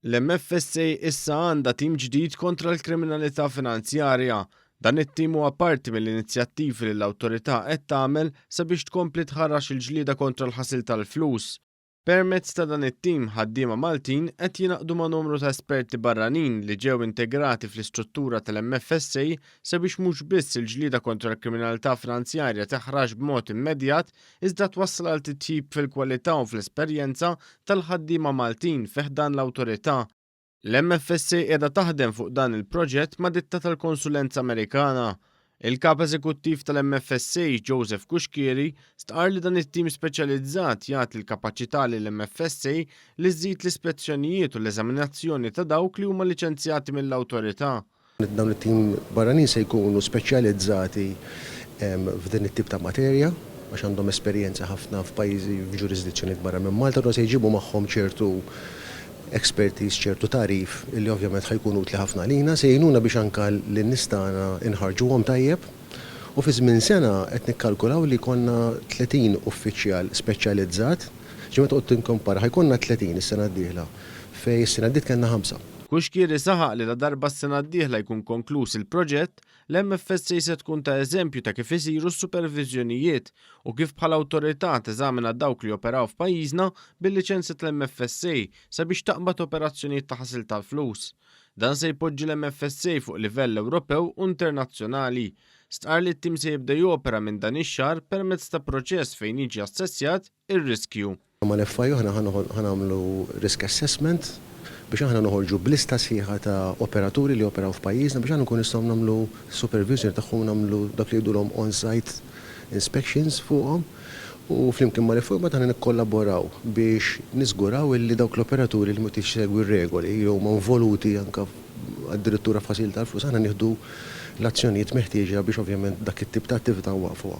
L-MFSA issa għandha tim ġdid kontra l-kriminalità finanzjarja. Dan it-tim huwa parti mill-inizjattivi li l-awtorità qed tagħmel sabiex tkompli tħarrax il-ġlieda kontra l-ħasil tal-flus. Permezz ta' dan it-tim, ħaddiema Maltin qed jingħaqdu ma' numru ta' esperti barranin li ġew integrati fl-istruttura tal-MFSA sabiex mhux biss il-ġlieda kontra l-kriminalità finanzjarja teħrax b'mod immedjat iżda twassal għal titjib fil-kwalità u fl-esperjenza tal-ħaddiema Maltin fi ħdan l-Awtorità. L-MFSA qiegħda taħdem fuq dan il-proġett ma' ditta tal-konsulenza Amerikana. Il-Kap Eżekuttiv tal-MFSA, Joseph Cuschieri, stqarr li dan it-tim speċjalizzat jagħti l-kapaċità lill-MFSA li żżid l-ispezzjonijiet u l-eżaminazzjoni ta' dawk li huma liċenzjati mill-Awtorità. Dawn it-tim barranin se jkunu speċjalizzati f'din it-tip ta' materja għax għandhom esperjenza ħafna f'pajjiżi f'ġurisdizzjonijiet barra minn Malta u dawn se jġibu magħhom ċertu expertise, ċertu tagħrif li ovvjament ħa jkun utli ħafna għalina. Se jgħinuna biex anke lin-nies tagħna nħarrġuhom tajjeb u fi żmien sena qed nikkalkulaw li jkollna 30 uffiċjal speċjalizzat. Ġifieri meta tqgħod tinkompara ħa jkollna 30 is-sena d-dieħla fejn is-sena għaddiet kellna ħamsa. Cuschieri saħaq li ladarba s-sena d-dieħla jkun konkluż il-proġett, l-MFSA se tkun ta' eżempju ta' kif isiru s-superviżjonijiet u kif bħala awtorità teżamina dawk li joperaw f'pajjiżna bil-liċenzja tal-MFSA sabiex taqbad operazzjonijiet ta' ħasil tal-flus. Dan se jpoġġi l-MFSA fuq livell Ewropew u internazzjonali. Stqarr li t-tim se jibda jopera minn dan ix-xahar permezz ta' proċess fejn jiġi assessjat ir-riskju. Ma' l-FIU aħna ħa nagħmlu risk assessment biex aħna noħorġu b'lista sħiħa ta' operaturi li joperaw f'pajjiżna biex aħna nkunu nistgħu nagħmlu superviżjoni tagħhom u nagħmlu dak li jgħidulhom on site inspections fuqhom u flimkien ma' l-FIU mbagħad aħna nikkollaboraw biex niżguraw illi dawk l-operaturi li mhux qed isegwi r-regoli jew huma involuti anke addirittura f'ħasil tal-flus aħna nieħdu l-azzjonijiet meħtieġa biex ovvjament dak it-tip ta' attività nwaqfuha.